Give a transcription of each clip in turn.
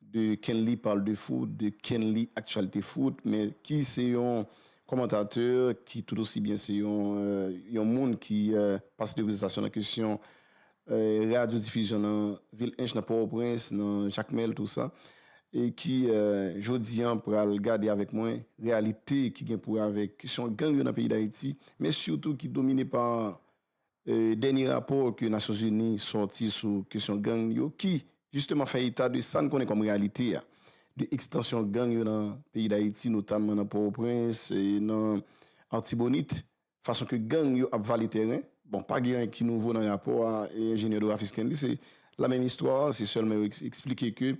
De Kenly parle de foot, de Kenly actualités foot, men ki se yon kòmantatè ki tout osi byen se yon yon moun ki pase de prestasyon nan kesyon radyo difizyon nan vil Ench, nan Pòtoprens, nan Jakmèl tou sa e ki jodi an pral gade avèk mwen reyalite ki gen pou wè avèk kesyon gang yo nan peyi Dayiti men sitou ki domine pa Dènye rapò ke Nasyon Zini sòti sou kesyon gang yo ki jisteman fè eta de sa n konnen kòm reyalite a, de ekstansyon gang yo nan peyi Dayiti notamman nan Pòtoprens, nan Artibonit, fason ke gang yo ap vale tèren. Bon, pa gen anyen ki nouvo nan rapò a Enjenyè Doraphy Stanley, se lamenm istwa, se sèlman yo eksplike ke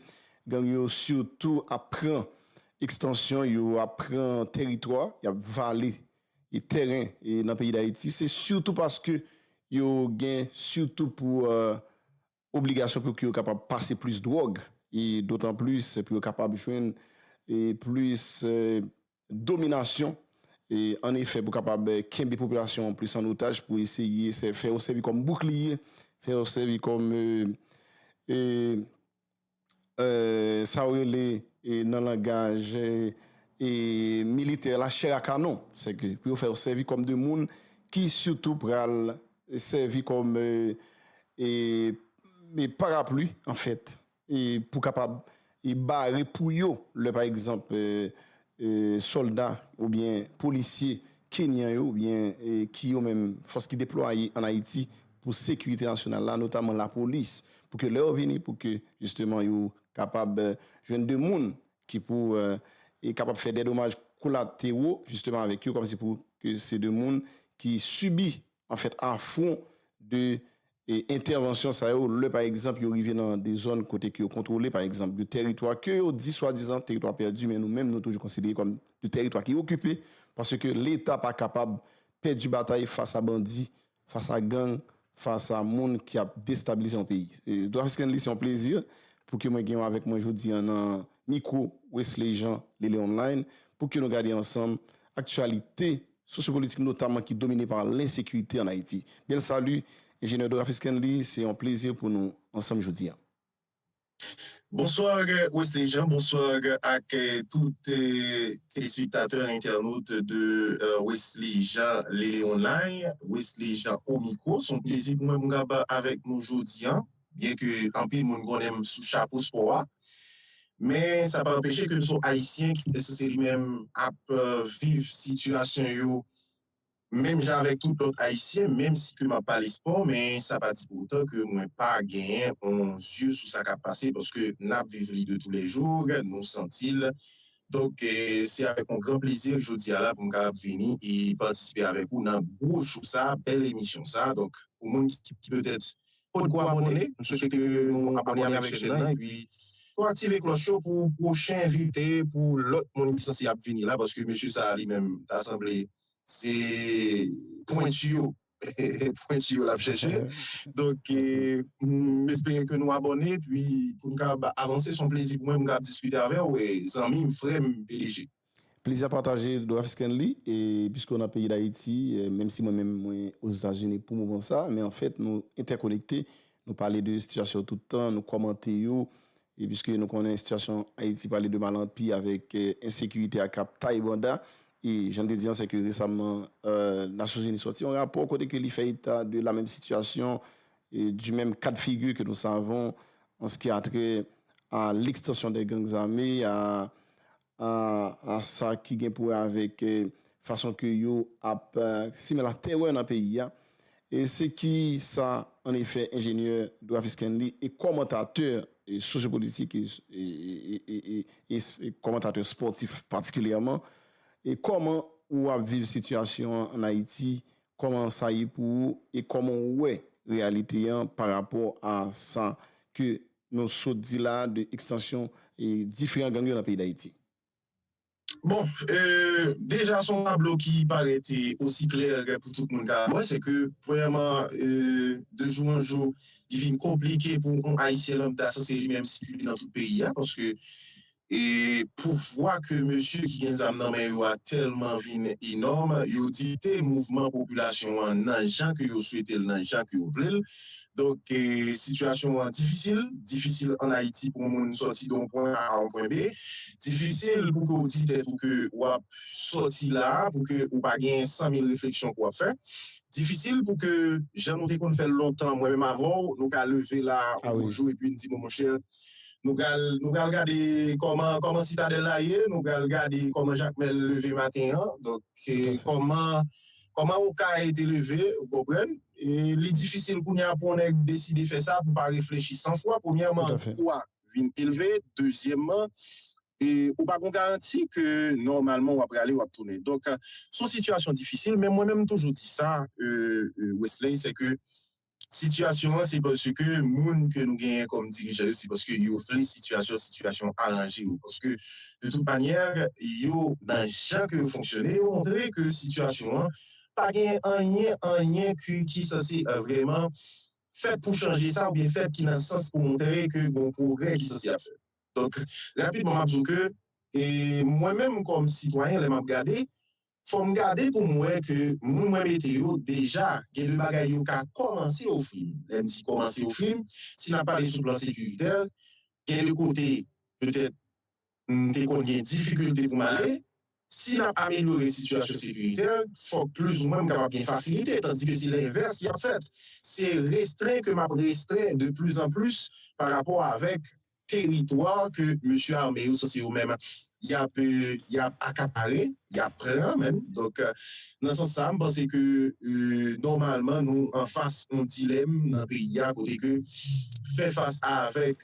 gang yo sitou ap pran ekstansyon, yo ap pran teritwa, y ap vale e tèren nan peyi Dayiti se sitou paske yo gen sitou pou obligasyon pou ki yo kapab pase plis dwòg e dotan plis pou yo kapab jwenn e plis dominasyon e an efè pou kapab kenbe popilasyon an plis an otaj pou eseye fè yo sèvi kòm boukliye fè yo sèvi kòm e. sa yo rele nan langaj militè la chè a kanon, se ke pou yo fè yo sèvi kòm de moun ki sitou pral sèvi kòm parapli an fèt pou kapab bare pou yo lè pa egzanp sòlda oubyen polisye kenyan yo oubyen ki yo menm fòs ki deplwaye an Ayiti pou sekirite nasyonal la notaman lapolis pou ke lè yo vini pou ke jisteman yo kapab jwenn de moun ki pou kapab fè dèdomaj kolatewo jisteman avèk yo kòmsi pou ke se de moun ki sibi an fèt a fwon de entèvansyon sa yo lè pa egzanp yo rive nan de zòn kote ke yo kontwole pa egzanp de tèritwa ke yo di swadizan tèritwa pèdi men nou menm nou toujou konsidere kòm de tèritwa ki okipe paske leta pa kapab pèdi batay fas a bandi fas a gang fas a moun ki ap destabilize yon peyi Dwafisk Kenly se yon plezi pou ke mwen gen ou avèk mwen jodi an nan mikwo Wesley Jean Lele Online pou ke nou gade ansanm aktyalite. sosyopolitik notaman ki domine pa lensekirite an Ayiti. Bel salut Ingénieur Doraphy Scanley, se yon plezi pou nou ansanm jodi an. Bonsoir Wesley Jean, bonsoir ak tout telespektatè, entènot de Wesley Jean Lele Online, Wesley Jean au micro, son plezi pou mwen pou m kab avèk nou jodi an. Byen ke anpil moun konnen m sou chapo spò a, men sa pa anpeche ke m son Ayisyen ki pèse se li menm ap viv sitiyasyon yo menm jan avèk tout lòt Ayisyen, menm si ke m ap pale spò, men sa pa di pou otan ke mwen pa genyen on zye sou sa k ap pase paske n ap viv li de tou lè jou, nou santi l. Donk se avèk on gran plezi ke jodi a la pou m kapab vini e patisipe avèk ou nan gwo show sa, bèl emisyon sa. Donk pou moun ki petèt Kot gwo abone, m swete ke nou abone avèk chèn nan epi tou aktive klòch yo pou pwochen envite pou lòt moun ki sanse ap vini la paske mesye sa li menm ta sanble se pwentu yo pwentu yo lap chèche donk m espere ke nou abone epi poun kab avanse son plezi pou mwen pou m kab diskite avèw zanmim frèm pdg. Plezi a pataje Drafsknly e piske w nan peyi Dayiti menm si mwen menm mwen Ozetazini pou moman sa men anfèt nou entèkonekte nou pale de sitiyasyon tout tan nou kòmante yo e piske nou konnen sitiyasyon Ayiti pale de mal an pi avèk ensekirite a kap taye banda e jan n te di an sèke resamman Nasyonzini sòti yon rapò kote ke li fè eta de la menm sitiyasyon e di menm ka de figi ke nou savon an s ki a trè a lekstansyon dè gang zame a a sa ki gen pou wè avèk fason ke yo ap simen la tèrè nan peyi a, se ki sa an efè enjenyè Dwafi Stanley e kòmantatè sosyopolitik e kòmantatè spòtif patikilyèman, e kòman ou ap viv sitiyasyon an an Ayiti, kòman sa ye pou ou e kòman ou wè reyalite an pa rapò a sa ke Nou sot di la de ekstansyon diferan gang yo nan peyi Dayiti. Bon, deja son tablo ki parèt osi klè pou tout moun ka wè, se ke premyèman de jou an jou li vin konplike pou yon ayisyen lambda sanse li menm sikile nan tout peyi a, paske E pouvwa ke mesye ki gen zam nan men yo a tèlman vin enòm, yo dikte mouvman popilasyon an nan jan ke yo swete l, nan jan ke yo vle l. Donk, sitiyasyon an difisil, difisil an Ayiti pou moun sòti de yon pwen A a yon pwen B, difisil pou ke w di tèt ou ke w ap sòti la a, pou ke ou pa gen san mil refleksyon ke w ap fè, difisil pou ke jan nou te konn fè l lontan, mwen menm avè w, nou ka leve la a yon jou epi n di bon monchè, Nou pral nou pral gade kòman kòman sitadèl la ye nou pral gade kòman jakmèl leve maten an donk kòman kòman okay te leve ou konprann li difisil kounya pou yon nèg deside fè sa pou pa reflechi san fwa premyèman kou a vin elve dezyèmman ou pa gon garanti ke nòmalman wap prale wap tounen donk son sitiyasyon difisil men mwen menm m toujou di sa Wesley se ke Sitiyasyon an se paske moun ke nou genyen kòm dirijan yo se paske yo vle sitiyasyon sitiyasyon an aranje yo paske de tout manyè yo nan jan ke yo fonksyone yo montre ke sitiyasyon an pa gen anyen anyen ke ki sanse vrèman fèt pou chanje sa oubyen fèt ki nan sans pou montre ke gon pwogrè ki sanse ap fèt donk rapidman m ap di w ke mwen menm kòm sitwayen lè m ap gade fòm gade poum wè ke moun mwen mete yo deja gen de bagay yo ka kòmanse ofrim, lèm di kòmanse ofrim si nap pale sou plan sekiritè gen de kote petèt mte konn gen difikilte poum ale si nap amelyore sitiyasyon sekiritè fòk plizoumwen mkapab gen fasilite tandike se lenvès ki ap fèt se restren ke map restren de plis an plis parapò avèk teritwa ke mesye ame yo sanse yo menm yap yap akapare, yap pran menm. Donk nan sans sa m panse ke nòmalman nou anfas yon dilèm nan peyi a kote ke fè fas avèk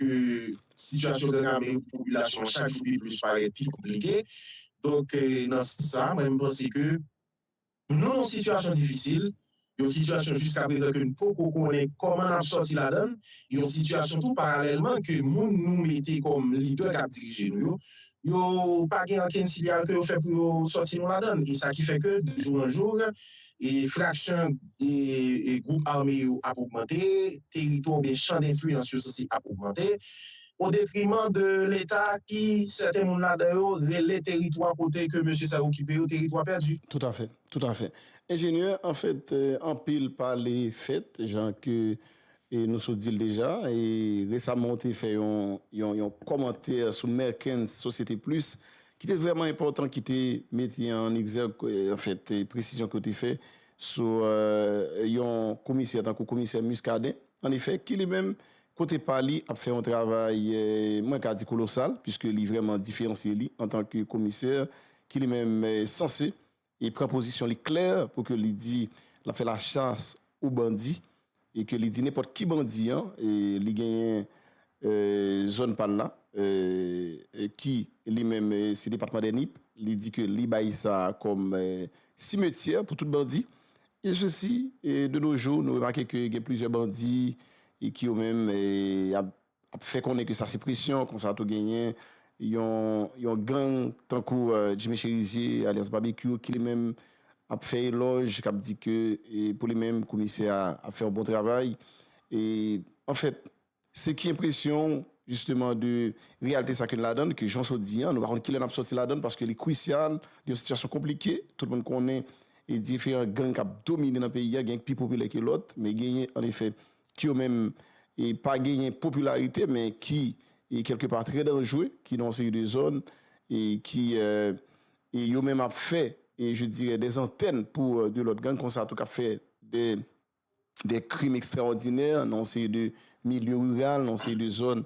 sitiyasyon gang ame yo pou popilasyon an chak jou pi plis parèt pi konplike. Donk nan sans sa mwen m panse ke. Nou nan yon sitiyasyon difisil, yon sitiyasyon jiskaprezan ke n poko konnen kòman n ap sòti ladan l, yon sitiyasyon tou paralèlman ke moun nou mete kòm lidè k ap dirije nou yo, yo pa gen ankenn siyal ke yo fè pou yo sòti nou ladan l. E sa ki fè ke de jou an jou, fraksyon gwoup ame yo ap ogmante, teritwa oubyen chan denfliyans yo sanse ap ogmante. o detriman de leta ki sèten moun ladan yo rele teritwa kote ke mesye sa yo okipe yo teritwa pèdi. Tout a fè, tout a fè. Enjenyè, an fèt, anpil pale fèt, jan ke nou sot di l deja, e resaman ou te fè yon, yon, yon kòmantè sou Merkens Société Plus ki te vrèman enpòtan, ki te mete an egzèg, an fèt, presizyon ke ou te fè sou yon komisè tankou komisè Muscadin, an efè, ki li menm Kote pa li ap fè yon travay mwen ka di kolosal puiske li vrèman diferansye li antan ke komisè ki li menm sanse e pran pozisyon li klè pou ke li di l ap fè la chas o bandi e ke li di nenpòt ki bandi an li genyen zòn pa l la ki li menm se depatman dè Nip li di ke li bay sa kòm simetyè pou tout bandi Byen si si, de no jou nou remake ke gen plizyè bandi ki yo menm ap fè konnen ke sa se presyon, konsa tou genyen yon gang tankou Jimmy Cherizier alyas Babekyou ki li menm ap fè elòj, k ap di ke pou li menm komisè a ap fè yon bon travay. Anfèt, Se ki enpresyon w jisteman de reyalte sa ke n ladann, ke jan w sot di an, nou pa konn kilè n ap soti ladann paske li krisyal, li yon sitiyasyon konplike, tout moun konnen diferan gang k ap domine nan peyi a, gen k pi popilè ke lòt, men genyen an efè ki yo menm pa genyen popilarite men ki kelke pa trè danjre, ki nan yon seri de zòn e ki yo menm ap fè je dirè dè zantèn pou de lòt gang konsa tou k ap fè dè de krim ekstraòdinè nan yon seri de milye riral, nan yon seri de zòn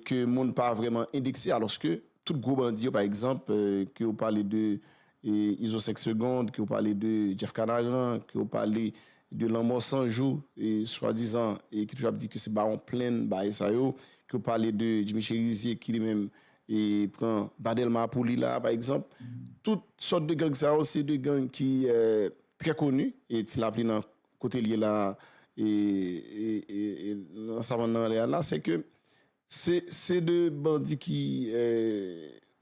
ke moun pa vreman endekse alòske tout gwo bandi yo pa egzanp ke ou pale de Izo 5 segond, ke ou pale de Jeff Kanaran, ke ou pale de Lanmò San Jou swadizan e ki toujou ap di ke se bawon plenn baay sa yo, ke ou pale de Jimmy Cherizier ki li menm pran ba Dèlma pou li la pa egzanp. Tout sòt de gang sa yo se de gang ki. Très connu et ti lapli nan kotel ye la et nan savann nan anlè a la c'est que c'est de bandi ki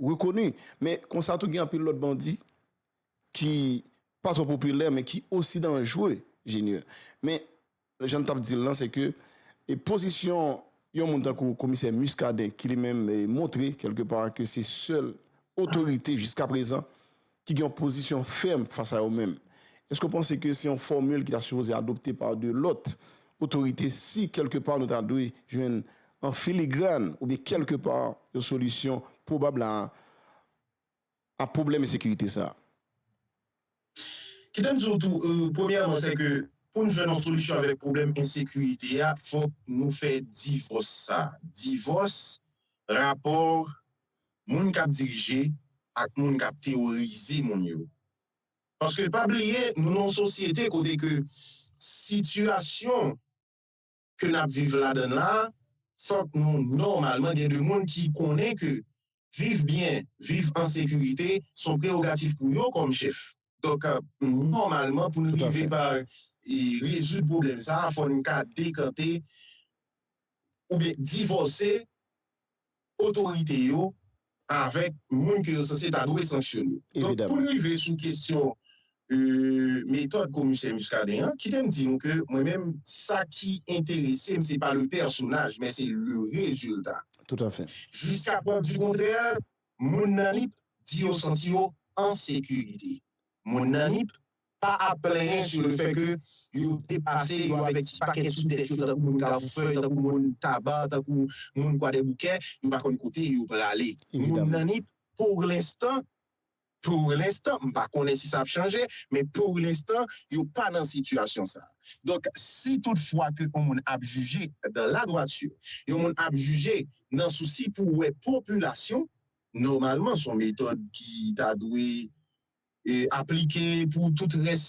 reconnu men konsa tou gen anpil lòt bandi ki pa trò popilè men ki aussi dangereux Junior men Lè jan n t ap di l lan, se ke pozisyon yon moun tankou komisè Muscadin ki li menm montre kèlke pa ke se sèl otorite jiska prezan ki gen yon pozisyon fèm fas a yo menm. Èske w panse ke se yon fòmil ki ta sipoze adopte pa de lòt otorite si kèlke pa nou ta dwe jwenn an filigrann oubyen kèlke pa yon solisyon pwobab la a? a pwoblèm ensekirite sa a. Kite m di w tou, premyèman, sè ke pou n jwenn yon solisyon avèk pwoblèm ensekirite a, fòk nou fè divòs sa a, divòs rapò moun k ap dirije ak moun k ap teworize moun yo. Paske pa bliye, nou nan yon sosyete kote ke sitiyasyon. ke nap viv ladann la, fòk nou nòmalman gen de moun ki konnen ke viv byen, viv an sekirite son prerogatif pou yo kòm chèf. Donk, nòmalman pou nou rive pa rezoud pwoblèm sa a, fò nou ka dekante oubyen divòse otorite yo avèk moun ke yo sanse ta dwe sanksyone. Donk pou n rive sou kesyon metòd komisè Muscadin an, kite m di nou ke mwen menm sa ki enterese m se pa le pèsonaj men se le rezilta. Toutafè. Jiska prèv di kontrè, moun nan Nip di yo santi yo an sekirite. Moun nan Nip pa ap plenyen sou le fè ke yo depase yo avèk ti pakèt sou tèt yo tankou moun Kavoufèy, tankou moun Taba, tankou moun Kwadèboukè, yo pa konn kote yo prale. Moun nan Nip, pour l'instant, pour l'instant, m pa konnen si sa ap chanje, men pour l'instant, yo pa nan sitiyasyon sa. Donk, si tout fwa ke yon moun ap jije dans la droiture, yon moun ap jije nan sousi pou wè popilasyon, nòmalman son metòd ki ta dwe aplike pou tout rès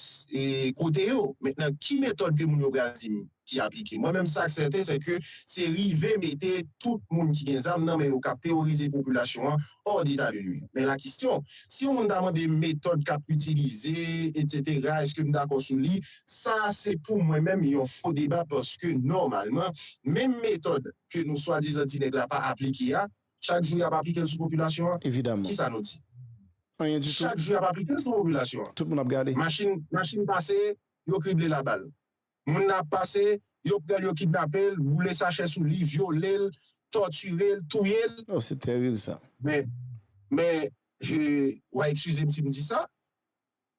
kote yo mentnan ki metòd ke moun yo pral dim ki aplike mwen menm sak sèten se ke se rive mete tout moun ki gen zam nan men yo kap teworize popilasyon an ò deta de nwir men la kistyon si yon moun ta mandem metòd kap itilize etc eskem dakò sou li sa se pou mwen menm yon fo deba paske nòmalman menm metòd ke nou swadizan ti nèg la pa aplike a Chak jou y ap aplike l sou popilasyon an. Evidaman. Kisa nou di? Anyen ditou. Chak jou y ap aplike l sou popilasyon an. Tout moun ap gade. Machin, machin pase, yo krible l a bal. Moun nan ap pase, yo pran l, yo kidnape l, boule sachè sou li, vyole l, tòtire l, touye l. Oh, se terib sa. Men, men, wa eskize m si m di sa,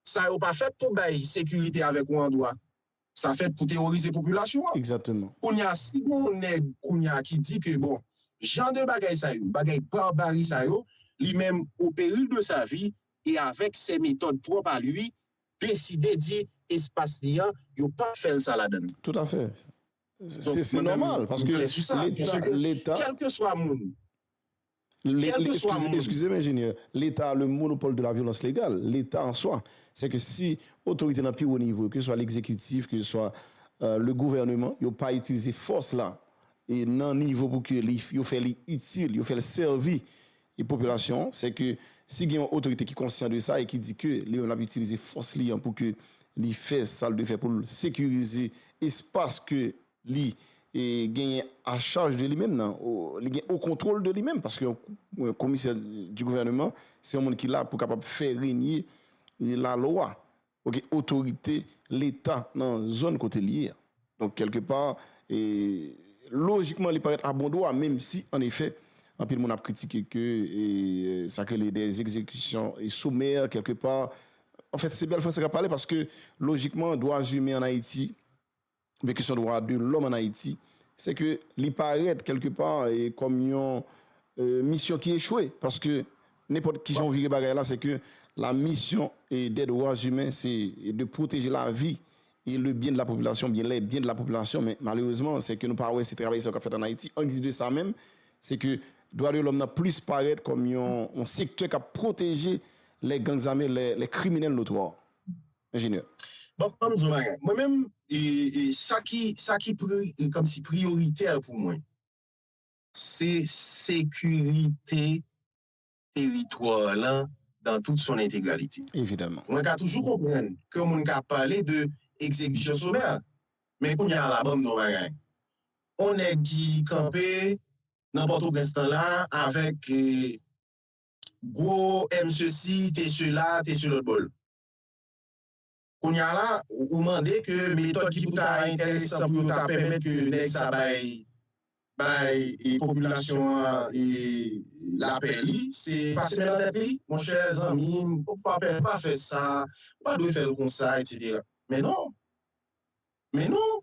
Sa yo pa fèt pou bay sekirite avèk ou andwa. Sa fèt pou teworize popilasyon an. Exactement. Kounye a si gen yon nèg kounye a ki di ke bon jan de bagay sa yo, bagay barbari sa yo, li menm au péril de sa vie et avec ses méthodes propres à lui, deside di espas li an yo pap fè l sa ladan l. Tout à fait. Se normal paske leta, leta. Kèlkeswa moun, Kèlkeswa moun. Eskize m enjenyè, leta a le monopòl de la vyolans legal. Leta an swa. Sè ke si otorite nan pi wo nivo, ke se swa legzekitif, ke se swa le gouvèneman, yo pa itilize fòs la e nan nivo pou ke li, yo fè li itil, yo fè l sèvi e popilasyon an, sè ke si gen yon otorite ki konsyan de sa e ki di ke li menm l ap itilize fòs li an pou ke li fè sa l dwe fè pou l sekirize espas ke li genyen a charge de li menm nan, li gen au controle de li menm, paske yon komisè du gouvernement, se yon moun ki la pou kapab fè renye la loi, ok, otorite leta nan zòn kote li ye a. Donk kelke pa, lojikman li parèt a bon dwa, menm si an efè, anpil moun ap kritike ke sa ke li de exekisyon somè kelke pa, an fèt se bèl franse kap pale, paske lojikman dwa zumen an Ayiti, oubyen kesyon dwa de lòm an Ayiti, se ke li parèt kèlke pa kòm yon misyon ki echwe, paske nenpòt kijan ou vire bagay la, se ke la misyon dè dwa imen se de pwoteje lavi e le byen de la popilasyon, oubyen lè byen de la popilasyon, men malerezman se ke nou pa wè se travay sa yo k ap fèt an Ayiti, an giz de sa menm, se ke dwa de lòm nan plis parèt kòm yon sektè k ap pwoteje lè gang zame, lè kriminèl notwa. Enjenyè. Bon, an m di w yon bagay. Mwen menm, sa ki, sa ki kòmsi priyoritè pou mwen, se sekirite teritwa lan dan tout son entegralite. Evidaman. Mwen ka toujou konprann ke yon moun ka pale de ekzekisyon somè a. Men kounye a la, ban m di w yon bagay. Yon nèg ki kanpe nan Pòtoprens lan la avèk gwo M sesi, T sela, T selòtbò l. Kounye a la, ou mande ke metòd ki pou ta enteresan pou yo ta pèmèt ke nèg sa bay bay popilasyon an lapè li, se pase men nan tèt li? Monchè zanmi m, ou pa pè, ou pa fè sa, ou pa dwe fè l konsa, etc. Men non! Men non!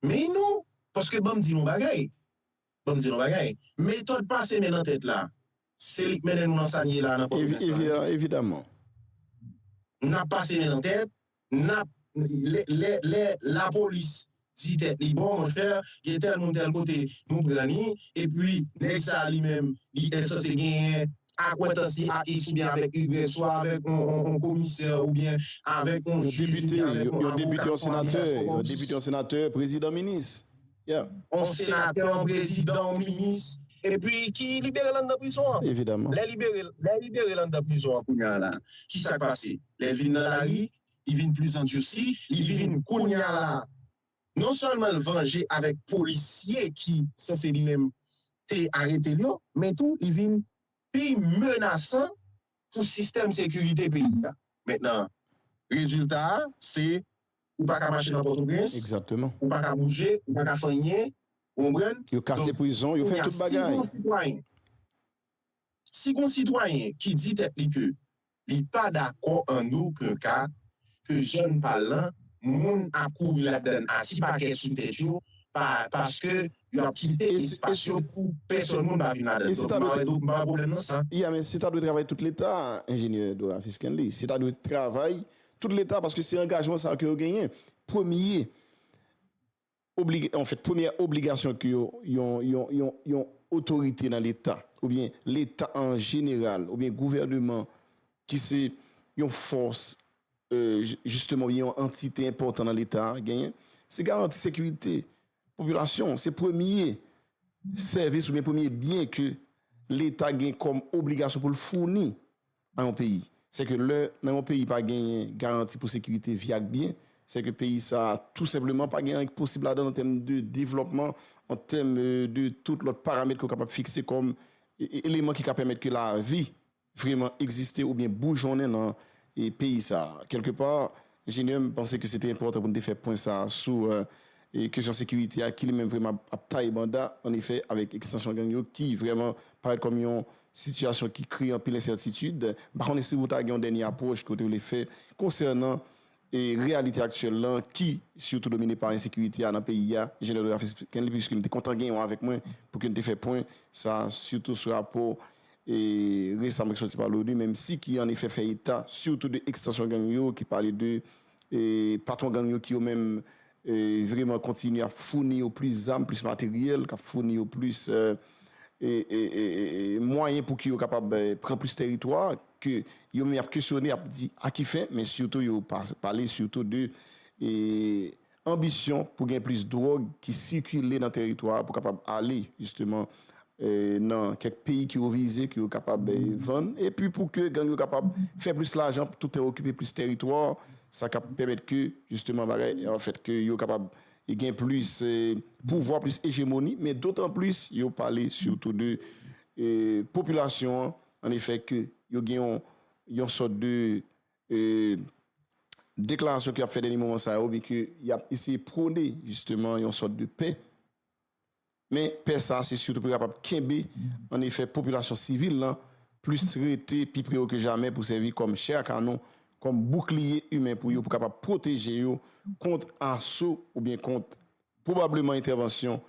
Mey nou, paske banm di nou bagay, banm di nou bagay, metòd pase men nan tèt la, se li k mennen nou nan sa n ye la a nan Pòtoprens lan wi. Evidaman. N ap pase men nan tèt, n ap, lè, lè lapolis di tèt li bon monchè, gen tèl moun tèl kote nou pran li, epi nèg sa a li menm li ensanse genyen. akwentans li ak X oubyen avèk Y, swa avèk yon komisè oubyen avèk yon jij oubyen avèk yon avoka, swa avèk yon depite, yon senatè, yon depite, yon senatè, yon prezidan, minis, yeah. Yon senatè, yon prezidan, yon minis, epi ki libere l anndan prizon an. Evidaman. Lè libere l, lè libere l anndan prizon an kounye a la, ki sa k pase? Lè l vin nan lari, li vin plis andursi, li vin kounye a la, Non sèlman l vanje avèk polisye ki sanse li menm te arete l yo, men tou li vin pi menasan pou sistèm sekirite peyi a. Mentnan rezilta a se ou pa ka mache nan Pòtoprens, ou pa ka bouje, ou pa ka fè anyen, ou konprann? Donk kounye a si gen yon sitwayen, si gen yon sitwayen ki di tèt li ke Li pa dakò an oken ka ke zòn n pa l lan, moun ap kouri ladan n a ti pakèt sou tèt yo, pa paske yo ap kite espas yo pou pèsòn moun pa vin ladan l. Donk m pa wè m pa wè pwoblèm nan sa. Ya men se ta dwe travay tout leta, Enjenyè Dorafi Stanley. Se ta dwe travay tout leta paske se angajman sa yo ke yo genyen. Premye. Oblige, an fèt, premyè obligasyon ke yon, yon, yon, yon, yon otorite nan leta, oubyen leta an jeneral, oubyen gouvèneman ki se yon fòs, e, jisteman, oubyen yon antite enpòtan nan leta a genyen, se garanti sekirite popilasyon an. Se premye sèvis oubyen premye byen ke leta gen kòm obligasyon pou l founi nan yon peyi. Se ke lè nan yon peyi pa genyen garanti pou sekirite, vi ak byen, se ke peyi sa a tou senpleman pa gen anyen ki posib ladan l an tèm de devlòpman, an tèm de tout lòt paramèt ke w kapab fikse kòm eleman ki ka pèmèt ke lavi vreman egziste oubyen boujonnen nan peyi sa a. Kèlke pa, Junior, m panse ke se te enpòtan pou n te fè pwen sa a sou kesyon sekirite a ki li menm vrèman ap taye banda an efè avèk ekstansyon gang yo ki vrèman parèt kòm yon sitiyasyon ki kreye anpil ensètitid. M pa konnen si ou ta gen yon dènye apwòch ke ou te vle fè konsènan reyalite aktyèl lan ki sitou domine pa ensekirite a nan peyi a, Jenè Dorafis Kenly, piske m te kontan gen ou avèk mwen pou ke n te fè pwen sa a sitou sou rapò resamn ki soti pa l'ONU menm si ki an efè fè eta sitou de ekstansyon gang yo ki pale de patwon gang yo ki yo menm vreman kontinye ap founi yo plis zam, plis materyèl, kap founi yo plis mwayen pou ki yo kapab pran plis teritwa ke yo menm ap kesyone ap di a ki fen men sitou yo pale sitou de Anbisyon pou gen plis dwòg ki sikile nan teritwa a pou kapab ale jisteman nan kèk peyi ke yo vize ke yo kapab vann epi pou ke gang yo kapab fè plis lajan pou toutè okipe plis teritwa sa kap pèmèt ke jisteman bagay an fèt ke yo kapab gen plis pouvwa plis ejemoni men dotan plis yo pale sitou de popilasyon an efè ke yo gen yon sòt de e deklarasyon ki ap fè dènye moman sa yo byen ke y ap eseye pwone jisteman yon sòt de pè men pè sa se sitou pou kapab kenbe an efè popilasyon sivil lan plis rete pi pre yo ke jamè pou sèvi kòm chè a kanon kòm boukliye imen pou yo pou kapab pwoteje yo kont aso oubyen kont Pwobableman entèvansyon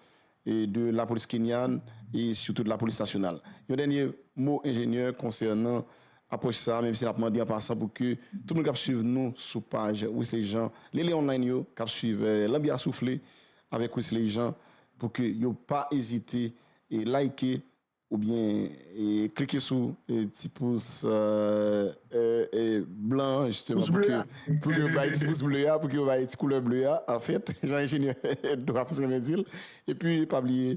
de lapolis kenyan e sitou de lapolis nasyonal. Yon dènye mo enjenyè konsènan apwòch sa a, menm si n ap mande an pasan pou ke tout moun k ap swiv nou sou paj Wisly Jean Lele Online yo, k ap swiv Lanbi a Soufle avèk Wisly Jean pou ke yo pa ezite like, Oubyen klike sou ti pous blan an jisteman pou ke pou yo bay ti pous ble a pou ke yo bay ti koulè ble a anfèt jan enjenyè Edouard renmen di l. Epi pa bliye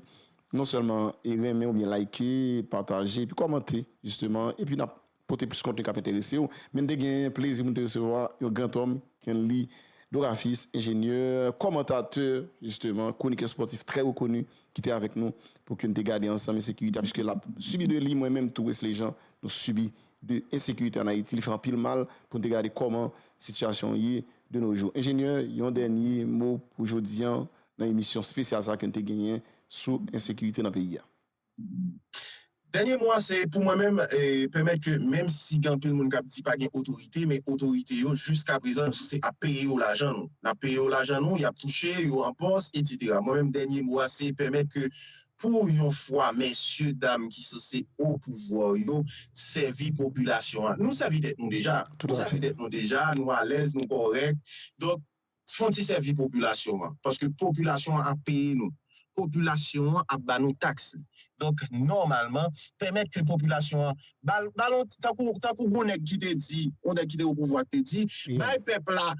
non sèlman renmen oubyen like, pataje epi kòmante jisteman epi n ap Pote plis kontni k ap enterese w. Men te gen plezi pou n te resevwa yon grantòm, Kenly Dorafis, enjenyè, kòmantatè, jisteman, kwonikè spòtif trè rekoni ki te avèk nou pou ke n te gade ansanm ensekirite a piske l ap sibi de li, mwen menm tou, Wesley Jean, nou sibi de ensekirite ann Ayiti. Li fè anpil mal pou n te gade kòman sitiyasyon an ye de no jou. Enjenyè, yon dènye mo pou jodi an nan emisyon spesyal sa a ke n te genyen sou ensekirite nan peyi a. Dènye mo a se pou mwen menm pèmèt ke menm si gen anpil moun k ap di pa gen otorite men otorite yo jiska prezan yo souse ap peye yo lajan nou n ap peye yo lajan nou y ap touche yo an pòs etsetera mwen menm dènye mo a se pèmèt ke pou yon fwa mesye dam ki souse opouvwa yo sèvi popilasyon an nou sèvi tèt nou deja nou sèvi tèt nou deja nou alèz nou kòrèk donk Fon ti sèvi popilasyon an. Paske popilasyon an ap peye nou. Popilasyon an ap ba nou taks li. Donk nòmalman, pèmèt ke popilasyon an ba l, ba l yon ti, tankou, tankou gon nèg ki te di, yon nèg ki te opouvwa ki te di, bay pèp la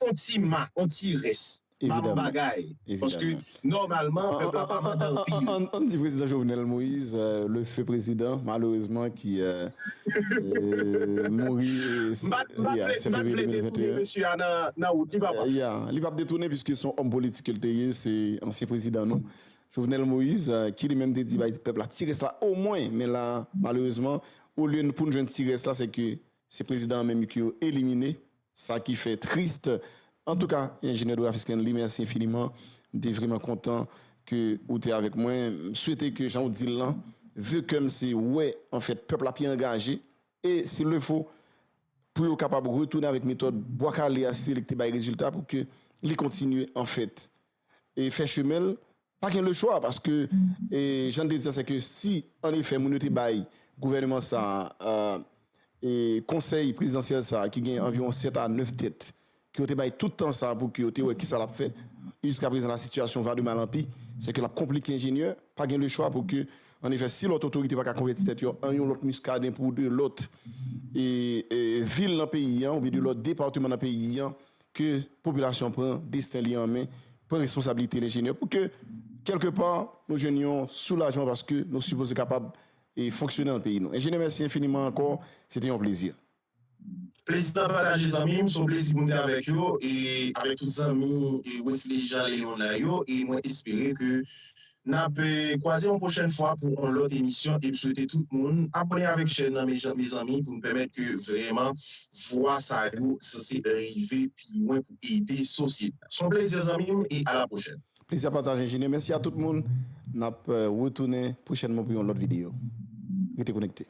yon ti ma, yon ti rès. Ba l yon bagay. Paske Nòmalman pèp la pa mande anpil. Ann di prezidan Jovenel Moise le feu prezidan malerezman ki mouri 7 fevriye 2021. Ya li pap detounen piske son òm politik ke li te ye se ansyen prezidan nou Jovenel Moise ki li menm te di bay pèp la ti rès la omwen men la malerezman olye poun jwenn ti rès la se ke se prezidan an menm ke yo elimine. Sa ki fè triste. Antouka Ingénieur Doraphy Scanley merci infiniment. M te vreman kontan ke ou te avèk mwen. M swete ke jan ou di l lan, ve kè m se wè an fèt pèp la pi angaje e s'il le faut pou yo kapab retounen avèk metòd Bwa Kale a si se li ki te bay rezilta pou ke li kontinye an fèt. e fè chemen l, pa gen lechwa paske jan n te di sa se ke si an efè moun yo te bay gouvèneman sa a e konsèy prezidansyèl sa a ki gen anviwon 7 a 9 tèt ke yo te bay tout tan sa a pou ke yo te wè kisa l ap fè e jiska prezan la sitiyasyon va de mal an pi se ke l ap konplike enjenyè pa gen lechwa pou ke an efè si lòt otorite pa ka konvèti tèt yo an yon lòt Muscadin pou de lòt e vil nan peyi an oubyen de lòt depateman nan peyi an ke popilasyon pran desten li an men, pran responsabilite li enjenyè pou ke kèlke pa nou jwenn yon soulajman paske nou sipoze kapab e fonksyone nan peyi nou. Enjenyè mèsi enfiniman ankò, se te yon plezi. Plezi m la pataje zanmi m, se yon plezi pou m te avèk yo e avèk tout zanmi Wesley Jean Léon nan yo e mwen espere ke Nap kwaze yon pwochèn fwa pou yon lòt emisyon em swete tout moun abòne avèk chèn nan mezanmi pou nou pèmèt ke vrèman vwa sa yo sanse rive pi lwen pou ede sosyete a. Son plezi zanmim e ala pwochèn. Plezi a pataj enjenyè mèsi a tout moun nap retounen pwochènman pou yon lòt videyo rete konekte.